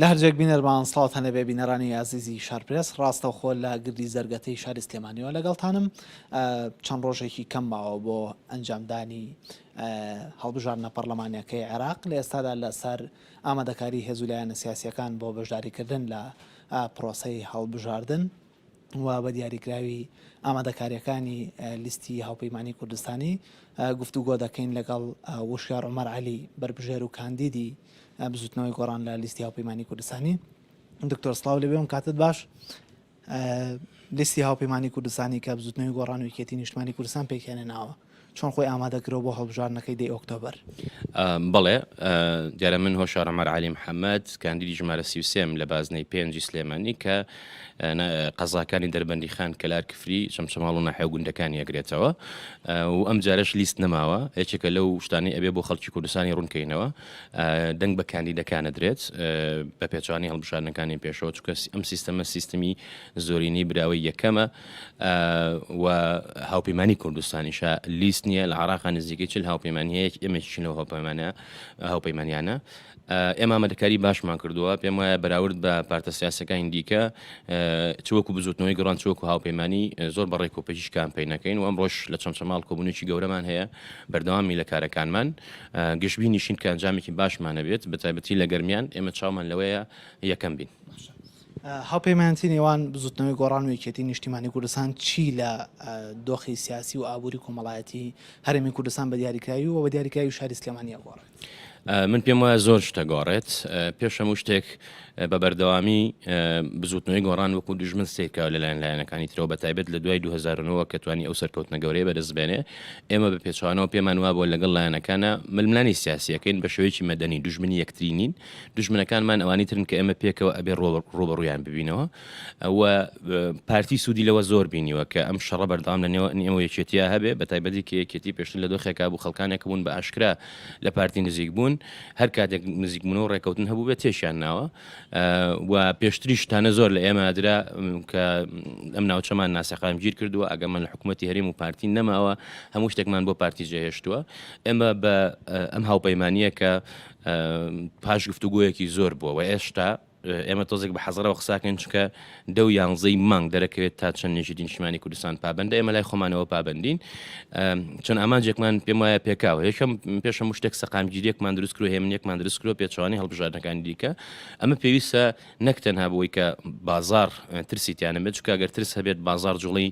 لەهەرجێک بینەرمان سڵاوت هەنێبێ بینەرانی ئازیزی شارپرێس ڕاستەوخۆ لە گردی زەرگەتەی شاری سلێمانیەوە لەگەڵتانم چەند ڕۆژێکی کەم ماوە بۆ ئەنجامدانی هەڵبژاردنە پەرلەمانەکەی عێراق لە ئێستادا لەسەر ئامادەکاری هێزولایەنە سیاسیەکان بۆ بەشداریکردن لە پرۆسی هەڵبژاردن و بە دیاریکراوی ئامادەکارییەکانی لیستی هاوپەیمانیی کوردستانی گفتوگۆ دەکەین لەگەڵ وشیار عومەر عەلی بەربژێر و کاندیدی بزوتنەوەی گۆڕان لە لیستی هاوپەیمانیی کوردستانی دکتۆر سڵاو لەوێ ئەم کاتت باش لیستی هاوپەیمانیی کوردستانی کە بزوتنەوەی گۆڕان و یەکێتی نیشتمانی کوردستان پێکهێنێناوە چۆن خۆی ئامادە کرد بۆ هەڵبژاردنەکەی دەی ئۆکتۆبەر؟ بەڵێ، دیارە من هۆشار عومەر عەلی محەمەد، کاندیدی ژمارە سی و سێ م لە بازنەی پێنجی سلێمانی کە قەزاکانی دەربەندیخان، کەلار، کفری، چەمچەماڵ و ناحیە و گوندەکانی ئەگرێتەوە و ئەمجارەش لیست نەماوە، یەکێکە لەو شتانەی ئەبێ بۆ خەڵکی کوردستانی ڕوون کەینەوە، دەنگ بە کاندیدەکان ئەدرێت بە پێچەوانەی هەڵبژاردنەکانی پێشەوە، چونکە ئەم سیستەمە سیستمی زۆرینەی براوەی یەکەمە. و هاوپەیمانی کوردستانیشە لیست نییە لە عراق نزیکەی چل هاوپەیمانی هەیە ئێمەشین لەو هاوپەیمانە هاوپەیمانیانە ئێمە مەدەکاری باشمان کردووە پێم وایە بەراورد بە پارتە سیاسەکانی دیکە چوەکو بزوتنەوەی گڕان چوەکو هاوپەیمانی زۆر بە ڕێک و پێچیش کامپین نەکەین و ئەم ڕۆژ لە چەند چەماڵ کۆبوونێکی گەورەمان هەیە بەردەوامی لە کارەکانمان گشتبی نیشین کە ئەنجامێکی باشمانە بێت بەتابەتی لە گەرمیان ئێمە چاومان لەوەیە یەکەم بین. هاوپەیمانێتی نێوان بزوتنەوەی گۆڕان و یەکێتی نیشتیمانی کوردستان چی لە دۆخی سیاسی و ئابووری کۆمەڵایەتی هەرێمی کوردستان بە دیاریکراوی و بە دیاریکراوی شاری سلێمانیا گۆڕێت؟ من پێم وایە زۆر شتە گۆڕێت پێش هەموو شتێک بە بەردەوامی بزوتنەوەی گۆڕان وەکو دژمن سیرکاو لەلایەن لایەنەکانی ترەوە بە تایبێت لە دوای 2009 کە توانی ئەو سەرکەوتنە گەورەیە بەدەستبێنێ ئێمە بە پێچوانەوە پێمان وابووە لەگەڵ لایەنەکانە ململانی سیاسیەکەین بە شێوەیەکی مەدەنی دژمنی یەکترینین دوژمنەکانمان ئەوانی ترن کە ئێمە پێکەوە ئەبێ ڕوبەڕویان ببینەوە و پارتی سوودی لەوە زۆر بینیوە کە ئەم شەڕە بەردەام لە نێوە ئێمە یەکێتیا هەبێ بە تایبەتی کە یەکێتی پێشتر لە دۆخێکا بوو خەڵکانێک بوون بە ئاشکرا لە پارتی نزیک بوون هەر کاتێک نزیکبوون و ڕێکەوتن هەبوو بێت تێشیان ناوە و پێشتریشتانە زۆر لە ئێمە درا کە ئەم ناوچەمان ناسەقام گیر کردووە ئەگەمان لە حکوومەتتی هەرێم و پارتی نەماوە هەموو شتێکمان بۆ پارتی جێهێشتووە ئێمە بە ئەم هاوپەیمانە کە پاش گفتوگۆیەکی زۆر بووە و ئێشتا ئێمە تۆزێک بە حەزەرەوە قساکەن چکە دە و یانزەی مانگ دەرەکەوێت تا چەند نێژی نیشتمانی کوردستان پابندە ئێمە لای خۆمانەوە پابندین چەند ئامانجێکمان پێم وایە پێکاوە یەکەم پێشە مشتێک سەقامگیریەکمان دروست کرو هێمنێکمان دروست کرۆ پێچوانی هەڵبژاردنەکانی دیکە ئەمە پێویستە نەک تەنها بۆی کە بازار ترسی تیانە بێت چکە گەر ترس هەبێت بازار جوڵی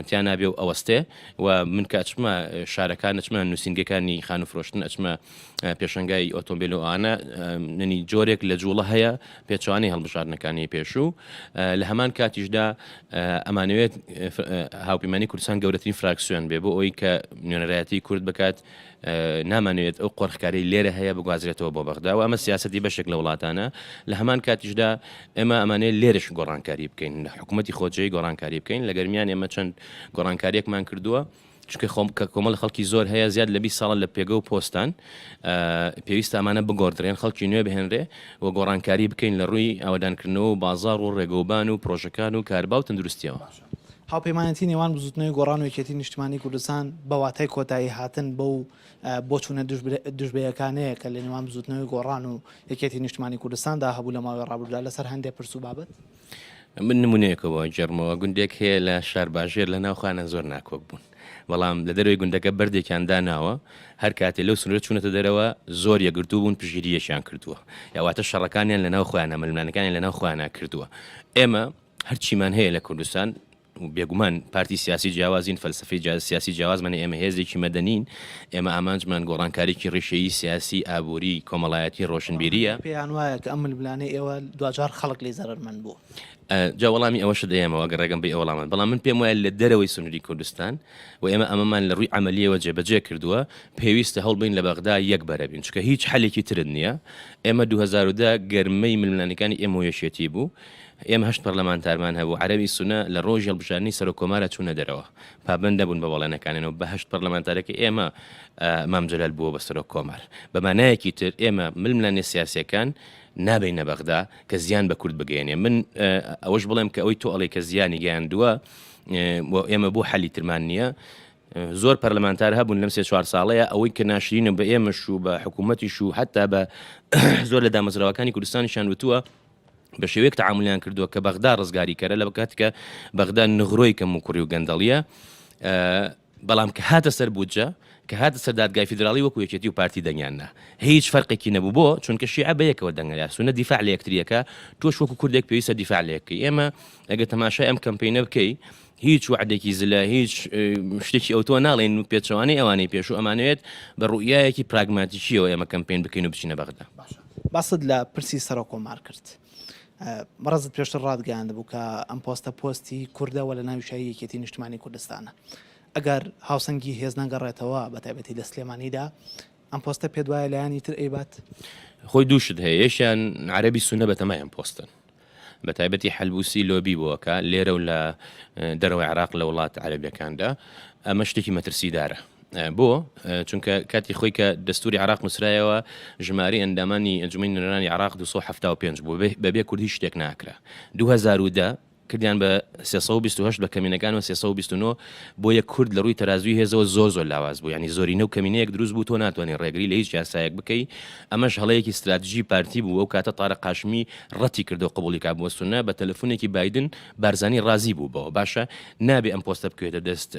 تیانابێ و ئەوەستێ و من کاچمە شارەکان نچمە نووسنگەکانی خان و فرۆشتن ئەچمە پێشەنگای ئۆتۆمبیل و ئانا ننی جۆرێک لە جوڵە هەیە پێچوانی هەڵبژاردنەکانی پێشوو لە هەمان کاتیشدا ئەمانوێت هاوپیمانی کوردستان گەورەترین فراکسیۆن بێ بۆ ئەوی کە نوێنەرایەتی کورد بکات نامانوێت ئەو قۆرخکاری لێرە هەیە بگوازرێتەوە بۆ بەغدا و ئەمە سیاستی بەشێک لە وڵاتانە لە هەمان کاتیشدا ئێمە ئەمانەیە لێرش گۆڕانکاری بکەین لە حکوومەتتی خۆجێی گۆڕانکاری بکەین لە گەرمیان ئێمە چەند گۆڕانکاریەکمان کردووە چونکە خۆم کە کۆمەڵ خەڵکی زۆر هەیە زیاد لە بیست ساڵە لە پێگە و پۆستان پێویستە ئەمانە بگۆڕدرێن خەڵکی نوێ بهێنرێ و گۆڕانکاری بکەین لە ڕووی ئاوەدانکردنەوە و بازاڕ و ڕێگەوبان و پڕۆژەکان و کاربا و تەندروستییەوە. هاوپەیمانێتی نێوان بزووتنەوەی گۆڕان و یەکێتی نیشتمانی کوردستان بە واتای کۆتایی هاتن بەو بۆچوونە دژبەیەکانەیە کە لە نێوان بزووتنەوەی گۆڕان و یەکێتی نیشتمانی کوردستاندا هەبوو لە ماوەی ڕابردوودا لەسەر هەندێ پرس و بابەت. من نمونەیەکەوە جێڕمەوە گوندێک هەیە لە شارباژێر لە ناوخانە زۆر ناکۆک بوون بەڵام لە دەروی گوندەکە بەردێکیان داناوە هەر کاتێ لەو سنوورە چوونەتە دەرەوە زۆر یەگرتو بوون پژگیریەکیان کردووە یاواتە شەڕەکانیان لە ناو خۆیانە ململانەکانی لە ناو خۆیانە کردووە ئێمە هەرچیمان هەیە لە کوردستان بێگومان پارتی سیاسی جیاوازین، فەلسەفەی سیاسی جیاوازمانە، ئێمە هێزێکی مەدەنین، ئێمە ئامانجمان گۆڕانکاریی ڕیشەیی سیاسی، ئابووری، کۆمەڵایەتی، ڕۆشنبیرییە. پێیان وایە کە ئەم ململانێی ئێوە دواجار خەڵک لێی زەرەرمەند بووە؟ جا وەڵامی ئەوەشت دەیەمەوە ئەگەر ڕێگەم بی ئەو وەڵامەت، بەڵام من پێم وایە لە دەرەوەی سنووری کوردستان و ئێمە ئەمەمان لە ڕووی عەمەلییەوە جێبەجێ کردووە، پێویستە هەوڵ بدەین لە بەغدا یەک بەرە بین، چونکە هیچ حەلێکی ترت نییە. ئێمە دوو هەزار و دە گەرمەی ململانێکانی ئێمە و یەکێتی بوو، ئێمە هەشت پەرلەمانتارمان هەبوو، عەرەبی سونە لە ڕۆژی هەڵبژاردنی سەرۆک کۆمارە چوونە دەرەوە، پابەند نەبوون بە بەڵێنەکانیان و بە هەشت پەرلەمانتارەکەی ئێمە مام جەلال بووە بە سەرۆک کۆمار. بە مانایەکی تر ئێمە ململانێ سیاسییەکان نابەینە بەغدا کە زیان بە کورد بگەیەنێ. من ئەوەش بڵێم کە ئەوەی تۆ ئەڵێی کە زیانی گەیاندووە و ئێمە بۆ حەلی ترمان نییە، زۆر پەرلەمانتار هەبوون لەم سێ چوار ساڵەیە، ئەوەی کە ناشرینە بە ئێمەش و بە حکوومەتیش و حەتتا بە زۆر لە دامەزراوەکانی کوردستانیشیان وتووە، بە شێوەیەک تەعامولیان کردووە کە بەغدا ڕزگاریکەرە لە بکات کە بەغدا نغرۆی کەم و کوڕی و گەندەڵیە بەڵام کە هاتە سەر بودجە کە هاتە سەر دادگای فیدراڵی وەکو یەکێتی و پارتی دەنگیاننا هیچ فەرقێکی نەبوو بۆ چونکە شیعە بە یەکەوە دەنگەیا سونە دیفاع لە یەکتریەکە تۆش وەکو کوردێک پێویستە دیفاع لەکەی ئێمە ئەگە تەماشای ئەم کەمپینە بکەی هیچ وعدێکی زلە هیچ شتێکی ئەوتۆ ناڵێن و پێچوانەی ئەوانەی پێشوو ئەمانوێت بە ڕوئایەکی پراگماتیکیەوە ئێمە کەمپین بکەین و بچینە بەغدا. باست لە پرسی سەرۆک کۆمار کرد. بەڕێزت پێشتر ڕاتگەیاندبوو کە ئەم پۆستە پۆستی کوردە و لە ناوی شای یەکێتی نیشتمانی کوردستانە. ئەگەر هاوسەنگی هێز نەگەڕێتەوە بە تایبەتی لە سلێمانیدا، ئەم پۆستە پێت وایە لایەنی تر ئەیبات؟ خۆی دوو شت هەیە، یەکیان عەرەبی سوننە بەتەمای ئەم پۆستەن. بە تایبەتی حەلبوسی لۆبی بۆ ئەکا لێرە و لە دەرەوەی عێراق لە وڵاتە عەرەبییەکاندا، ئەمە شتێکی مەترسیدارە. بۆ؟ چونکە کاتی خۆی کە دەستووری عێراق نووسرایەوە ژمارەی ئەندامانی ئەنجوومەنی نوێنەرانی عێراق دوو سەد و حەفتا و پێنج بوو، بە بێ کورد هیچ شتێک ناکرا. دوو هەزار و دە کردیان بە سێ سەد و بیست و هەشت بە کەمینەکانەوە سێ سەد و بیست و نۆ، بۆیە کورد لە ڕووی تەرازووی هێزەوە زۆر زۆر لاواز بوو، یانی زۆرینە و کەمینەیەک دروست بوو تۆ ناتوانی ڕێگری لە هیچ یاسایەک بکەی، ئەمەش هەڵەیەکی ستراتژی پارتی بوو، ئەو کاتە تارق هاشمی، ڕەتی کردەوە قبوڵی کا بوە سونە بە تەلەفونێکی بایدن بارزانی ڕازی بوو بەوە باشە نابێ ئەم پۆستە بکەوێتە دەست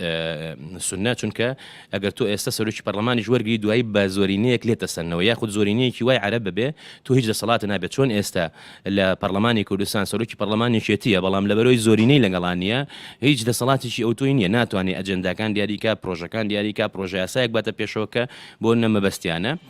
سونە چونکە ئەگەر تۆ ئێستا سەرۆکی پەرلەمانیش وەرگری دوایی بە زۆرینەیەک لێ تەسەنەوە یاخود زۆرینەیەکی وای عەرب ببێ تۆ هیچ دەسەڵات نابێت چۆن ئێستا لە پەرلەمانی کوردستان سەرۆکی پەرلەمانێکێتیە بەڵام لە بەرۆی زۆرینەی لەگەڵانە هیچ دەسەڵاتێکی ئەو تۆی نییە ناتوانێت ئەجنداکان دیاریکە پرۆژەکان دیاریکە پرۆژه یاسایەک باتە پێشەوە کە بۆ نەمەبەستیانە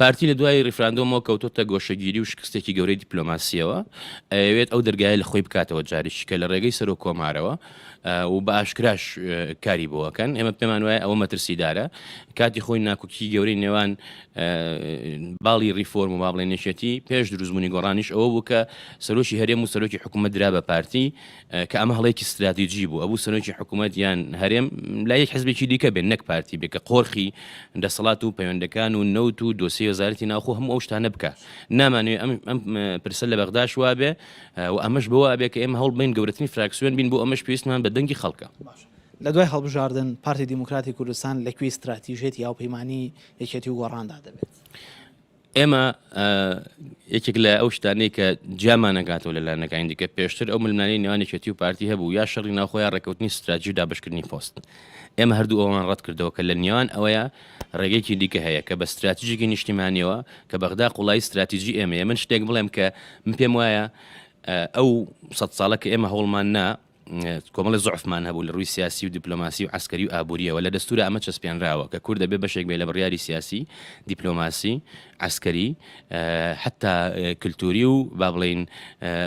پارتی لە دوای ریفراندۆمەوە کەوتۆتە گۆشەگیری و شکستێکی گەورەی دیپلۆماسیەوە ئەوێت ئەو دەرگایە لە خۆی بکاتەوە جاریش کە لە ڕێگەی سەر و کۆمارەوە و بە ئاشکراش کاری بۆەکەن ئێمە پێمان وایە ئەوە مەترسیدارە کاتی خۆی ناکوکی گەورەی نێوان باڵی ریفۆرم و بابڵێنێشێتی پێش دروزمونی گۆڕانیش ئەوە بوو کە سەرۆکی هەرێم و سەرۆکی حکوومەت درا بە پارتی کە ئەمە هەڵەیەکی ستراتیجی بوو ئەبوو سەرۆکی حکوومەت یان هەرێم لا یەک حزبێکی دیکە بێن نەک پارتی بێکە قۆرخی دەسەڵات و پەیوەندەکان و نەوت و دۆسی وەزارەتی ناوخۆ هەموو ئەو شتانە بکە نامانوێ ئەم ئەم پرسە لە بەغداش وابێ و ئەمەش بۆ وابێ کە ئێمە هەوڵ بین گەورەترین فراکسیۆن بین بۆ ئەمەش پێویستمان بە دەنگی خەڵکە لە دوای هەڵبژاردن پارتی دیموکراتی کوردستان لەکوێی استراتیژێتی یاوپەیمانانی یەکێتی و گۆڕاندا دەبێت. ئێمە یەکێک لە ئەو شتانەی کە جیامانەکاتەوە لە لایەنەکانی دیکە پێشتر ئەو ملمانی نێوانێکێتی و پارتی هەبوو یا شەڕی ناوخۆیان ڕێکوتنی ستراجی و دابشکردنی پۆست ئێمە هەردوو ئەومان ڕەت کردەوە کە لە نیوان ئەوەیە ڕێگەیەکی دیکە هەیە کە بە ستراتیژێکی نیشتیمانیەوە کە بەغدا قوڵایی ستراتیژی ئێمەیە من شتێک بڵێم کە من پێم وایە ئەو سە ساڵە کە ئێمە هەوڵمان نا کۆمەڵێ زعفمان هەبوو لە ڕووی سیاسی و دیپلۆماسی و عسکەری و ئابوووریەوە لە دەستورە ئەمە چەسپێنراوە کە کوردە بێ بەشێک بێ لە بڕیاری سیاسی دیپلۆماسی عسکەری حتا کللتوری و با بڵین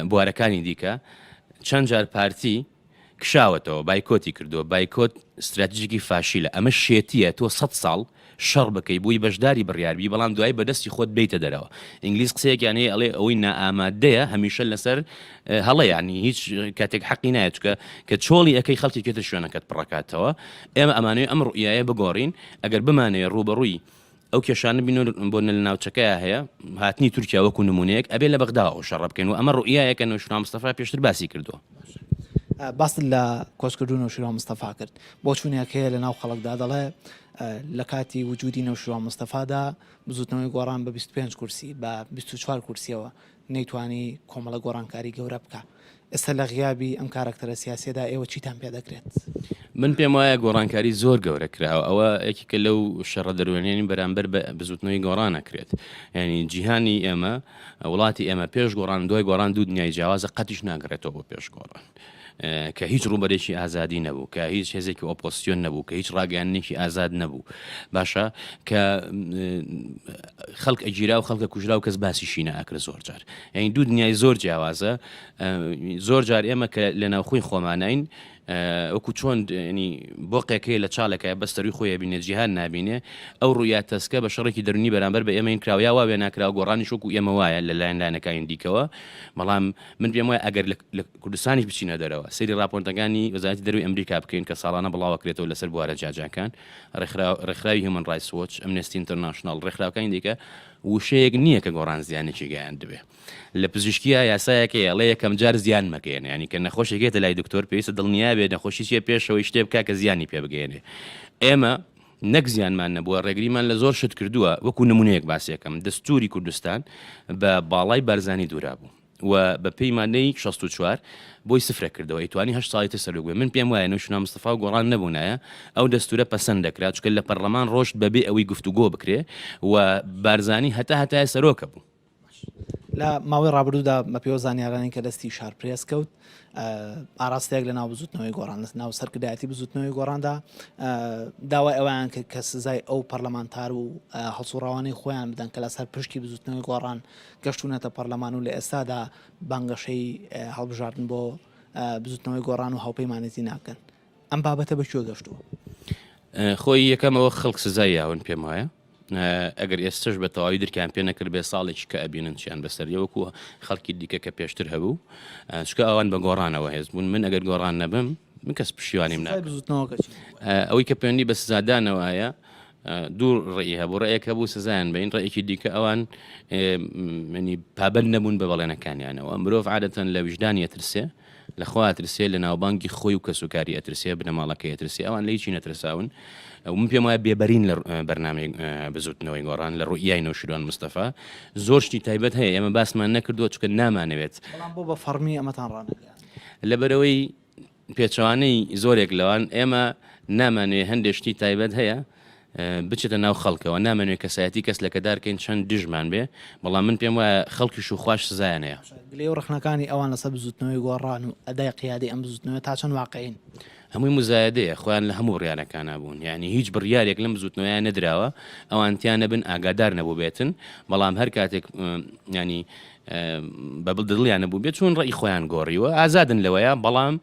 بوارەکانی دیکە چەند جار پارتی کشاوەتەوە بایکۆتی کردو بایکۆت استراتژیکی فاشیلە ئەمە شێتیە تۆ سە ساڵ شەڕ بکەی بۆی بەشداری بڕیار بی بەڵام دوایی بەدەستی خۆت بێیتە دەرەوە ئینگلیز قسەیەکیان هەیە ئەڵێ ئەوەی نائامادەیە هەمیشە لەسەر هەڵە یانی هیچ کاتێک حەقی نایە چکە کە چۆڵی ئەەکەی خەڵکێکی تر شوێنەکەت پڕەکاتەوە ئێمە ئەمانەی ئەم ڕوئایە بگۆڕین ئەگەر بمانەیە ڕوبەڕووی ئەو کێشانە بین بۆ نە لە ناوچەکەی هەیە هاتنی تورکیا وەکو نمونەیەک ئەبێ لە بەغدا و شەڕ بکەین و ئەمە ڕوئایەکە نوشنا مستەفا پێشتر باسی کردووە باست لە کۆچکردوون و شرۆ مستەفا کرد بۆ چوونێک هەیە لە ناو خەڵکدا دەڵێ لە کاتی وجودی نەوشیروان مستەفادا بزوتنەوەی گۆڕان بە بیست و پێنج کورسی بە بیست و چوار کورسیەوە نەیتوانی کۆمەڵە گۆڕانکاری گەورە بکا ئێستا لە غیابی ئەم کارەکتەرە سیاسیەدا ئێوە چیتان پێ دەکرێت؟ من پێم وایە گۆڕانکاری زۆر گەورە کراوە ئەوە یەکێکە لەو شەڕە دەروێنەی بەرامبەر بە بزوتنەوەی گۆڕان ئەکرێت یانی جیهانی ئێمە وڵاتی ئێمە پێش گۆڕان و دوای گۆڕان دوو دنیای جیاوازە قەتیش ناگەڕێتەوە بۆ پێش گۆڕان. کە هیچ ڕووبەرێکی ئازادی نەبوو، کە هیچ هێزێکی ئۆپۆسیۆن نەبوو، کە هیچ ڕاگەیاندنێکی ئازاد نەبوو، باشە کە خەڵک ئەگیرا و خەڵکە کوژرا و کەس باسیشی نەئەکرد زۆر جار یعنی دوو دنیای زۆر جیاوازە زۆر جار ئێمە کە لە ناوخۆی خۆمانین وەکو چۆن بۆ قێکەیە لە چاڵەکە بەستەروی خۆی بینێ جیهان نبینێ ئەو ڕویا تەسکە بە شەڕێکی دەرنی بەرامبەر بە ئێمەین کراویا واێ ناکراوە گۆڕانی شوک و ئێمە وایە لە لایەن لایەنەکانی دیکەوە بەڵام من پێم وایە ئەگەر لە کوردستانیش بچینە دەرەوە سەیری ڕاپۆرتەکانی وەزارەتی دەروی ئەمریکا بکەین کە ساڵانە بڵاوەکرێتەوە لەسەر بوارە جیاجیاکان ڕێکخراوی هیومن ڕایس وۆچ ئەمنستی ئینتەرناشناڵ ڕێکخراوەکانی دیکە وشەیەک نییە کە گۆڕان زیانێکی گەیان دەبێ لە پزیشکیە یاسایەکەیە ڵە یەکەم جار زیان مەکەێن ینی کە نەخۆشێکێتە لای دکتۆر پێویستە دڵنیابێت نەخۆشیە پێشەوەی شتێ بکە کە زیانی پێ بگەێنێ ئێمە نەک زیانمان نەبووە ڕێگریمان لە زۆر شت کردووە، وەکو نمونەیەک باسیەکەم، دەستوری کوردستان بە باڵای بارزانی دورابوو و بە پێی مادەی شەست و چوار بۆی سفرە کردەوە ئەیتوانی هەشت ساڵی تر سەرۆک بێ من پێم وایە نوشنا مستەفا و گۆڕان نەبونایە ئەو دەستورە پەسەند دەکرا چونکە لە پەرلەمان ڕۆشت بەبێ ئەوەی گفتوگۆ بکرێ و بارزانی هەتا هەتایە سەرۆکە بوو لە ماوەی ڕابردوودا بەپێوە زانیارانی کە دەستی شار پرێس کەوت ئاراستەیەک لە ناو بزوتنەوەی گۆڕان لە ناو سەرکردایەتی بزوتنەوەی گۆڕاندا داوای ئەویان کرد کە سزای ئەو پەرلەمانتار و هەڵسوڕاوانەی خۆیان بدەن کە لەسەر پشتی بزوتنەوەی گۆڕان گەشتونەتە پەرلەمان و لە ئێستادا بانگەشەی هەڵبژاردن بۆ بزوتنەوەی گۆڕان و هاوپەیمانێتی ناکەن ئەم بابەتە بەکوێ گەشتووە خۆی یەکەمەوە خەڵک سزای یاون پێم وایە ئەگەر ئێستەش بە تەواوی درکیان پێ نەکرد بێ ساڵێکی کە ئەبینن چیان بەسەریە وەکو خەڵکی دیکە کە پێشتر هەبوو چکە ئەوان بە گۆڕانەوە هێز بوون من ئەگەر گۆڕان نەبم من کەس پشیوانیم نا ئەوەی کە پێنی بە سزادانەوەە دوو ڕێی هەبوو ڕێک هەبوو سزایان بین ڕێکی دیکە ئەوان منی پابل نەبوون بە بەڵێنەکانیانەوە مرۆڤ عادەتەن لە ویژدان یەترسێ لە خوا ئەترسێ لە ناوبانگی خۆی و کەس و کاری ئەترسێ بنەماڵەکەی ئەترسێ ئەوان لە هیچی نەترساون و من پێم وایە بێبەرین لە بەرنامەی بزوتنەوەی گۆڕان لە ڕوئیای نەوشیروان مستەفا زۆر شتی تایبەت هەیە ئێمە باسمان نەکردووە چکە نامانەوێت بەڵام بۆ بە فەڕمی ئەمەتان ڕانەگەیاند لەبەرەوەی پێچەوانەی زۆرێک لەوان ئێمە نامانوێ هەندێ شتی تایبەت هەیە بچێتە ناو خەڵکەوە نامەنوێ کەسایەتی کەس لەکەدار کەین چەند دژمان بێ بەڵام من پێم وایە خەڵکیش و خواش سزایانەیە. گلەی و ڕەخنەکانی ئەوان لەسەر بزووتنەوەی گۆڕان و ئەدای قیادەی ئەم بزووتنەوەیە تا چەند واقعین؟ هەمووی مزایەدەیە، خۆیان لە هەموو بڕیارەکانا بوون، یانی هیچ بڕیارێک لەم بزووتنەوەیە نەدراوە ئەوان تیا نەبن، ئاگادار نەبووبێتن، بەڵام هەر کاتێک یانی بە دڵیان نەبووبێت چوون ڕێی خۆیان گۆڕیوە، ئازادن لەوەیە بەڵام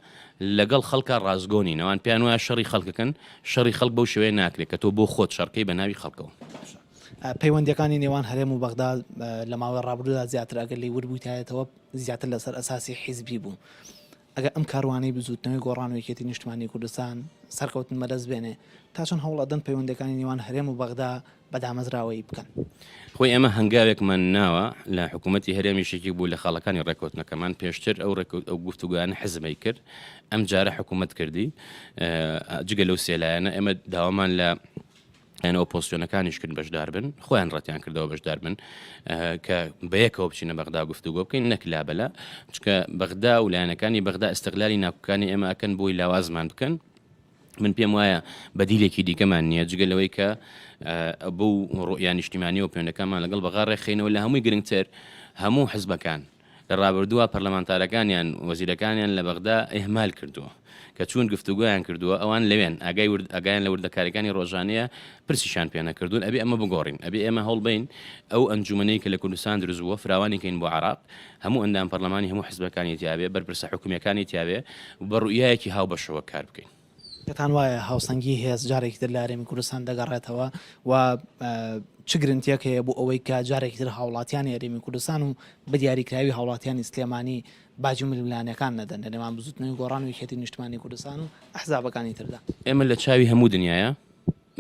لەگەڵ خەڵکە ڕاستگۆ نین، ئەوان پێیان وایە شەڕی خەڵکەکەن، شەڕی خەڵک بەو شێوەیە ناکرێت کە تۆ بۆ خۆت شەڕ کەی بە ناوی خەڵکەوە. باشە پەیوەندیەکانی نێوان هەرێم و بەغدا لە ماوەی ڕابردوودا زیاتر ئەگەر لێی وربوویتایەتەوە زیاتر لەسەر ئەساسی حیزبی بوو. ئەگەر ئەم کاروانەی بزووتنەوەی گۆڕان و یەکێتی نیشتمانی کوردستان سەرکەوتن بەدەست بێنێ تا چەند هەوڵ ئەدەن پەیوەندەکانی نێوان هەرێم و بەغدا بە دامەزراوەیی بکەن. خۆی ئێمە هەنگاوێکمان ناوە لە حکوومەتی هەرێمیش یەکێک بوو لە خاڵەکانی ڕێککەوتنەکەمان پێشتر ئەو ڕێککەوت ئەو گفتوگویانە حزبەی کرد ئەم جارە حکوومەت کردی جگە لەو سێلایەنە ئێمە داوامان لە یان ئۆپۆسیۆنەکانیش کرد بەشدار بن خۆیان ڕەتیان کردەوە بەشدار بن کە بەیەکەوە بچینە بەغدا گفتوگۆ بکەین نەک لابلا چکە بەغدا و لایەنەکانی بەغدا ئەستەغلانی ناکوکانی ئێمە ئەکەن بۆی لاوازمان بکەن من پێم وایە بەدیلێکی دیکەمان نییە جگە لەوەی کە بەو ڕۆیان نیشتیمانی و پێونەکانمان لەگەڵ بەغا ڕێخینەوە لە هەمووی گرنگتر هەموو حزبەکان لە ڕابردووە پەرلەمانتارەکانیان وەزیرەکانیان لە بەغدا ئهمال کردووە کە چون گفتوگویان کردووە ئەوان لەوێن ئاگای ورد ئەگایان لە وردەکارەکانی ڕۆژانەیە پرسیشان پێ نەکردوون ئەبێ ئەمە بگۆڕین ئەبێ ئێمە هەوڵبین ئەو ئەنجومەنەی کە لە کوردستان دروست بووە فراوانیکەین بۆ عراق هەموو ئەندام پەرلەمانی هەموو حزبەکانی تیابێ، بەرپرسە حکومیەکانی تیابێ و بە روئیایەکی هاوبەشەوە کار بکەین. پێتان وایە هاوسەنگی هێز جارێکی تر لە هەرێمی کوردستان دەگەڕێتەوە و چ گرنتیەک هەیە بۆ ئەوەی کە جارێکی تر هاوڵاتیانی هەرێمی کوردستان و بە دیاریکراوی هاوڵاتیانی سلێمانی باجی ململانێکان نەدەن لە نێوان بزوتنەوەی گۆڕان و یەکێتی نیشتمانی کوردستان و ئەحزابەکانی تردا؟ ئێمە لە چاوی هەموو دنیایە،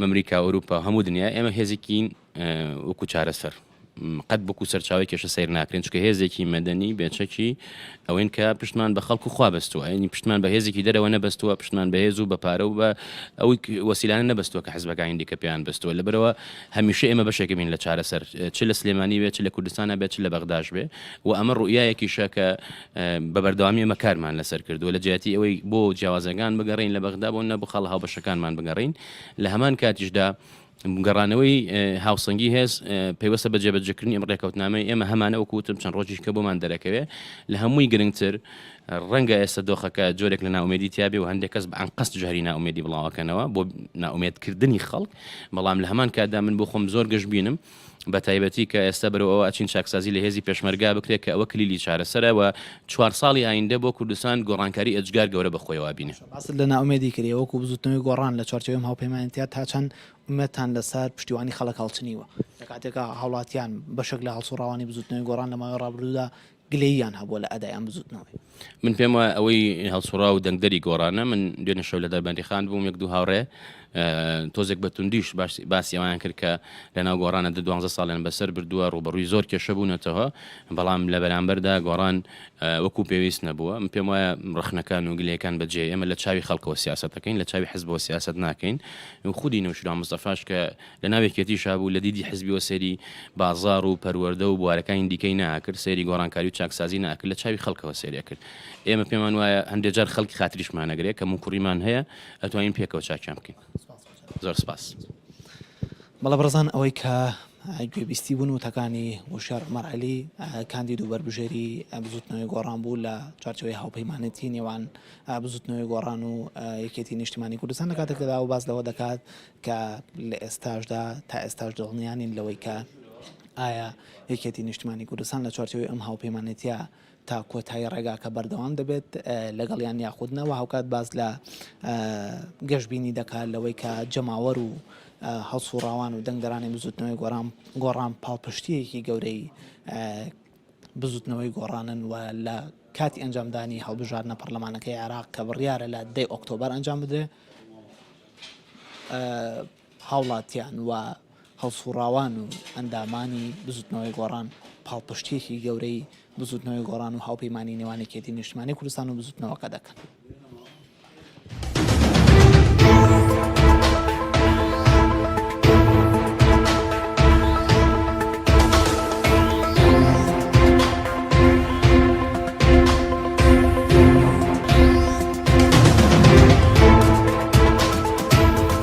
مەمریکا، ئەوروپا، هەموو دنیا، ئێمە هێزێکین وەکو چارەسەر قەت بکو سەرچاوی کێشە سیر ناکرێن چکە هێزێکی مەدەنی بێچەکی ئەوەین کە پشتمان بە خەڵکو خوا بەستووە ینی پشتمان بە هێزێکی دەرەوە نەبەستووە پشتمان بەهێز و بە پارە و بە ئەو وەسیلانە نەبستووە کە حزبەکانی دیکە پێیان بەستووە لەبەرەوە هەمیشە ئێمە بەشێکبین لە چارەسەر چ لە سلێمانی بێت چ لە کوردستانە بێت چ لە بەغداش بێ و ئەمە ڕوئایەکی شەکە بە بەردەوامی ئەمە کارمان لەسەر کردووە لە جیاتی ئەوەی بۆ جیاوازەکان بگەڕین لە بەغدا بۆ نە بخەڵ هاو بەشەکانمان بگەڕین لە هەمان کاتیشدا گەڕانەوەی هاوسەنگی هێز پەیوەستە بە جێبەجێکردنی ئەم ڕێکەوتنامەی ئێمە هەمانە وەکو وتم چەند ڕۆژیش کە بۆمان دەرەکەوێ لە هەمووی گرنگتر ڕەنگە ئێستا دۆخەکە جۆرێک لە ناومێدی تیاابێ و هەندێک کەس بە ئەنقەست جاری ناومێدی بڵاوەکەنەوە بۆ ناومێدکردنی خەڵک بەڵام لە هەمان کاتدا من بۆ خۆم زۆر گەشت بینم بە تایبەتی کە ئێستا بەرەوە ئەوە ئەچین چاکسازی لە هێزی پێشمەرگا بکرێت کە ئەوە کلیلی چارەسەرەوە چوار ساڵی ئایندە بۆ کوردستان گۆڕانکاری ئەجگار گەورە بەخۆیەوە بینێت. باست لە نائومێدی کردی، وەکو بزوتنەوەی گۆڕان لە چوارچێوەی ئەم هاوپەیمانێتیە تا چەند ئومێدتان لەسەر پشتیوانی خەڵک هەڵچنیوە، لە کاتێکا هاوڵاتیان بەشێک لە هەڵسوڕاوانی بزوتنەوەی گۆڕان لە ماوەی ڕابردوودا گلەییان هەبووە لە ئەدای ئەم بزوتنەوەی؟ من پێم وایە ئەوەی هەڵسوڕاو دەنگدەری گۆڕانە، من دوێنێ شەو لە دەربەندیخان بووم یەک دوو هاوڕێ، تۆزێک بە توندیش باسی ئەوەیان کرد کە لەناو گۆڕانە دە دوانزە ساڵیان بەسەر بردووە ڕوبەڕووی زۆر کێشە بوونەتەوە بەڵام لە بەرامبەردا گۆڕان وەکو پێویست نەبووە من پێم وایە ڕخنەکان و گلەکان بەجێ ئێمە لە چاوی خەڵکەوە سیاستەکەین لە چاوی حزبەوە سیاست ناکەین خودی نوشرا مستەفاش کە لە ناوێکێتی شابوو لە دیدی حزبیەوە سەری بازار و پەروەەردە و بوارەکانی دیکەی ناکرد سەری گۆڕانکاری و چاکسازی ناکرد لە چاوی خەڵکەوە سەریە کرد ئێمە پێمان وایە هەندێک جار خەڵکی خاتریشمانەگرێت کە موکوڕیمان هەیە ئەتوانین پێکەوە چاکیان بکەین زۆر سپاس بەڵە بڕزان ئەوەی کە گوێبیستی بوون و تەکانی وشار مەرعلی کاندید و بەربژێری بزوتنەوەی گۆڕان بوو لە چارچەوەی هاوپەیمانەتی نێوان بزوتنەوەی گۆڕان و یەکێتی نیشتمانی کوردستان لە کاتێکدا و باز لەوە دەکات کە لە ئێستاشدا تا ئێستاش دڵنیانین لەوەی کە ئایا یەکێتی نیشتمانی کوردستان لە چارچەوەی ئەم هاوپەیمانێتە تا کۆتایی ڕێگاکە بەردەوام دەبێت لەگەڵیان یاخود نا، وە هاوکات باس لە گەشبینی دەکات لەوەی کە جەماوەر و هەڵسووڕاوان و دەنگدەرانی بزوتنەوەی گۆران گۆڕان پاڵپشتیەکی گەورەی بزوتنەوەی گۆڕانن و لە کاتی ئەنجامدانی هەڵبژاردنە پەرلەمانەکەی عێراق کە بڕیارە لە دەی ئۆکتۆبەر ئەنجام بدرێت. هاوڵاتیان و هەڵسوڕاوان و ئەندامانی بزوتنەوەی گۆڕان پاڵپشتیەکی گەورەی بزوتنەوەی گۆڕان و هاوپەیمانی نێوان یەکێتی نیشتمانی کوردستان و بزوتنەوەکە دەکەن.